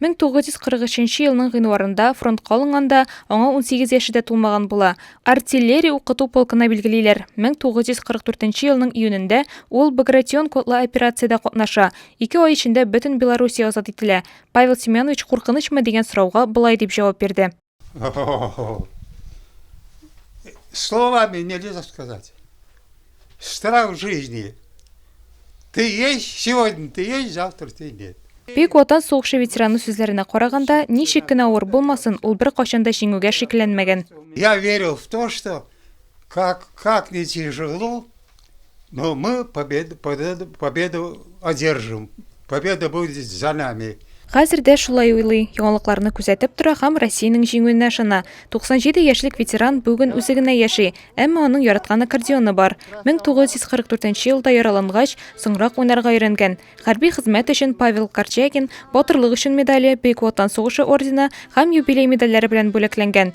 1943 елның гыйнварында фронтка алынганда аңа 18 яше дә тулмаган була. Артиллерия укыту полкына билгелиләр. 1944 елның июнендә ул Багратион котлы операциядә катнаша. Ике ай эчендә бөтен Белоруссия азат ителә. Павел Семенович куркынычмы дигән сорауга болай дип җавап бирде. Словами нельзя сказать. Штраф жизни. Ты есть, сегодня ты есть, завтра ты нет. Бик ватан сугышы ветераны сүзләренә караганда, ничек кенә авыр булмасын, ул бер качан да җиңүгә шикләнмәгән. Я верил в то, что как как не тяжело, Но мы победу, победу, победу одержим. Победа будет за нами. Хәзер дә шулай уйлый, яңалыкларны күзәтеп тора һәм Россиянең җиңүенә ышана. 97 яшьлек ветеран бүген үзе генә яши, әмма аның яраткан аккордеоны бар. 1944 елда яралангач, соңрак уйнарга өйрәнгән. Хәрби хезмәт өчен Павел Корчагин Батырлык өчен медале, Бөек Ватан сугышы ордены һәм юбилей медальләре белән бүләкләнгән.